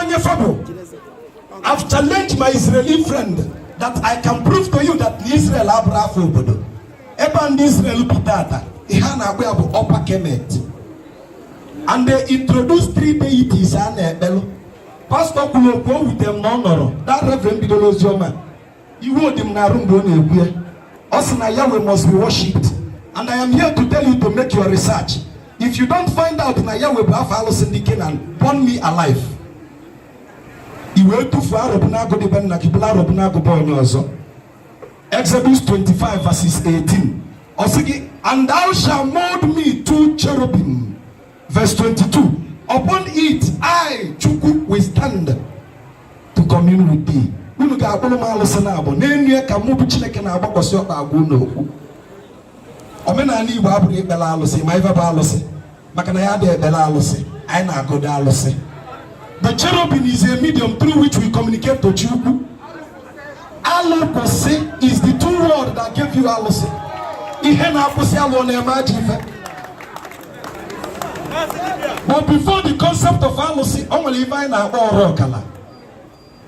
onye fa bụ I've challenged my Israeli friend that I can prove to you that Israel abụrọ afa obodo ebe a ndị Israel bi tata ihe a na-akpọ ya bụ Upper Kemet and they introduced three deities a na-ekpelụ pastọ kwuru okwu o wutere m na ọ nọrọ that reverend bidoro ozi ọma iwe dị m n'arụ mgbe ọ na-ekwu ya ọ sị na Yahweh must be worshipped and I am here to tell you to make your research if you don't find out na Yahweh bụ afa alụsị ndị Kenan burn me alive i wee tufuo arọbụnagụ dị be nna gị bulu arọbụnagụ be onye ọzọ Exodus 25 verses 18 ọ sị gị and thou shalt mold me two cherubim Verse 22 Upon it I, Chukwu, will stand to commune with thee. Unu ga-akpụrụ m alụsị naabọ n'elu ya ka mụ bụ Chineke na-agbakwasị ọkpa agwa unu okwu. Omenala Igbo abụghị ikpere alụsị ị ma ife bụ alụsị maka na anyị adị ekpere alụsị anyị na-agọdo alụsị. The cherubim is a medium through which we communicate to Chukwu. Alụ kwụsị is the two words that gave you alụsị. Ihe na-akwụsị alụ na-eme ajọ ife. But before the concept of alụsị, o nwere ife anyị na-akpọ ọrụ ọkala.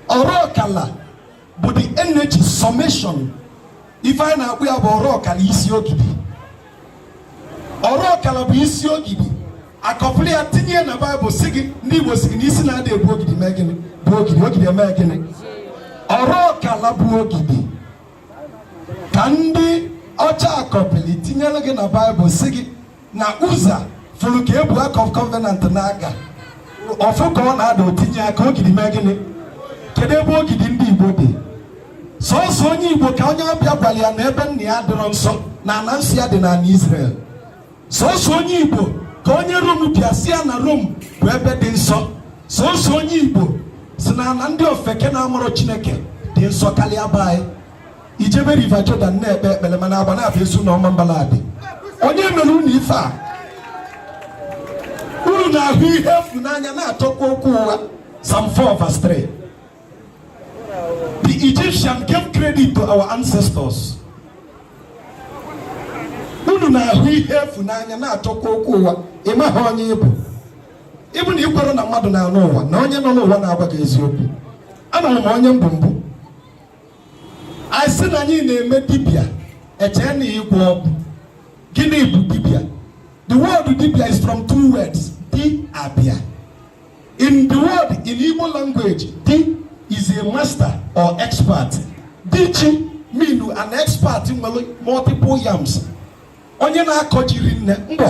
Ọrụ ọkala bụ the energy summation ife anyị na-akpọ ya bụ ọrụ ọkala isi ogidi ọrụ ọkala bụ isi ogidi a kọpịlị ya tinye na baịbụl sị gị ndị Igbo sị gị na isi na-adị ebu ogidi mee gịnị bue ogidi ogidi emee gịnị ọrụ ọkala bụ ogidi ka ndị ọcha kọpịlị tinyere gị na baịbụl sị gị na Uza fụrụ ka e bu ark of covenant na-aga ọ fụ ka ọ na-ada o tinye aka ogidi mee gịnị kedu ebe ogidi ndị Igbo dị sọsọ onye Igbo ka onye ọbịa gwara ya na ebe nna ya adịrọ nsọ na ala nsọ ya dị n'ala Israel sọsọ onye Igbo ka onye Rom bịa sị ya na Rom bụ ebe dị nsọ sọsọ onye Igbo sị na ala ndị ofeke na-amarọ Chineke dị nsọ karịa be anyị i jebe River Jordan na-ekpe ekpere mana Agbanabọ Ezu na Ọmambala dị onye mere unu ife a unu na-ahụ ihe efu n'anya na-achọkwa okwu ụgha Psalm 4 verse 3 the Egyptian gave credit to our ancestors unu na-ahụ ihe efu n'anya na-achọkwa okwu ụgha ị maghị onye ị bụ ịbụ na i kwerọ na mmadụ nọ n'ụwa na onye nọ n'ụwa na-agwa gị eziokwu amarọ m onye m bụ mbụ anyị sị na anyị na-eme dibịa e chee na ịgwọ ọgwụ gịnị bụ dibịa the word dibịa is from two words di abịa in the word in Igbo language di is a master or expert di ji mean an expert nwere multiple yams onye na-akọ ji rinne mbọ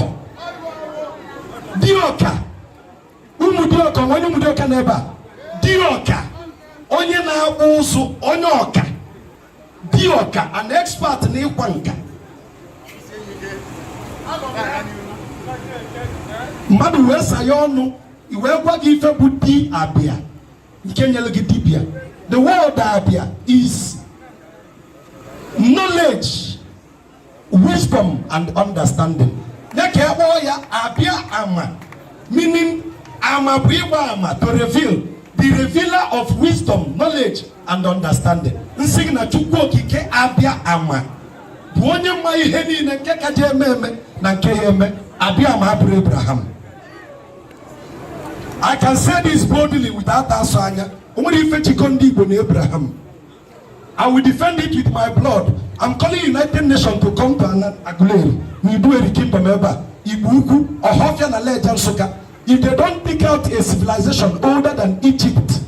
di ọka ụmụdiọka onye ụmụdiọka n'ebe a di ọka onye na-akpụ ụzụ onye ọka di ọka an expert na ịkwa nka mmadụ wee sa ya ọnụ e wee gwa gị ife bụ di abịa nke nyelụ gị dibịa the word abịa is knowledge wisdom and understanding ya ka e ji kpọọ ya abịa ama meaning ama bụ ịgba ama to reveal the revealer of wisdom knowledge and understanding m sị gị na chukwu okike abịa ama bụ onye ma ihe niile nke ka je-eme eme na nke ya eme abịa ama abụrọ abraham i can say this boldly without asọ anya o nwerọ ife jikọ ndị igbo na abraham I will defend it with my blood. I'm calling United Nations to come to Aguleri. N'Iduu Eri kingdom ebe a. Igbo Ukwu, Ohafia na Lejja Nsukka. If they don't dig out a civilization older than Egypt,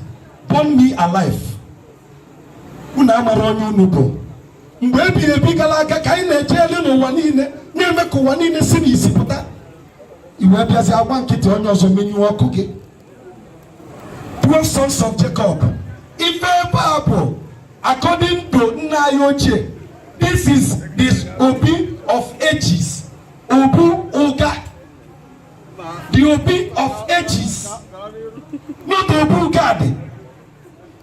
burn me alive. Unu amarọ onye unu bụ. Mgbe ebighị ebi galụ aga ka anyị na-eje elu n'ụwa niile na-eme ka ụwa niile si n'isi pụta. I wee bịazi agba nkịtị onye ọzọ menyụọ ọkụ gị. twelve sons of Jacob ife ebe a bụ according to nna anyị ochie this is the obi of ages obu ụga the obi of ages not obu gad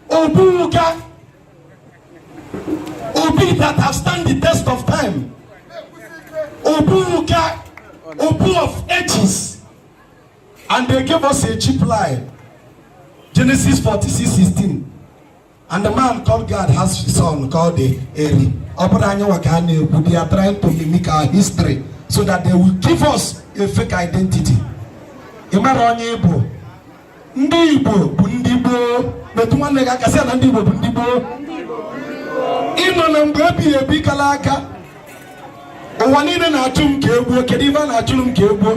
obu ụga obi that have stand the test of time obu ụga obu of ages. And they gave us a cheap lie. Genesis 46 16. And the man called Gad has his son called Eri. Ọ bụrọ anyị nwa ka a na-ekwu they are trying to mimic our history so that they will give us a fake identity. Ị mara onye ị bụ ndị Igbo bụ ndị gboo metụ nwanne gị aka sị na ndị Igbo bụ ndị gboo ị nọ na mgbe ebighị ebi galụ aga ụwa niile na-achụ m ka e gbuo kedu ife a na-achụrụ m ka e gbuo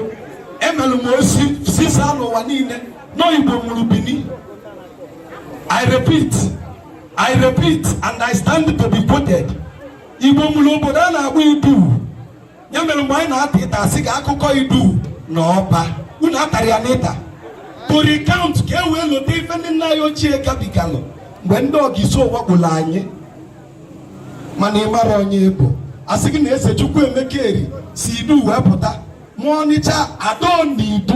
emelụ m ozi zisa n'ụwa niile na igbo mụrụ bini i repeat i repeat and i stand to be quoted igbo mụrụ obodo a na-akpọ iduu ya mere mgbe anyị na-ata ịta a sị ka akụkọ iduu na ọba unu atara ya n'ịta to recount ka e wee lote ife ndị nna anyị ochie gabigalụ mgbe ndị ogiso wakpolu anyị mana ị mara onye ị bụ a sị gị na eze chukwu emeka eri si idu wee pụta mụọ ọnịcha ado na idu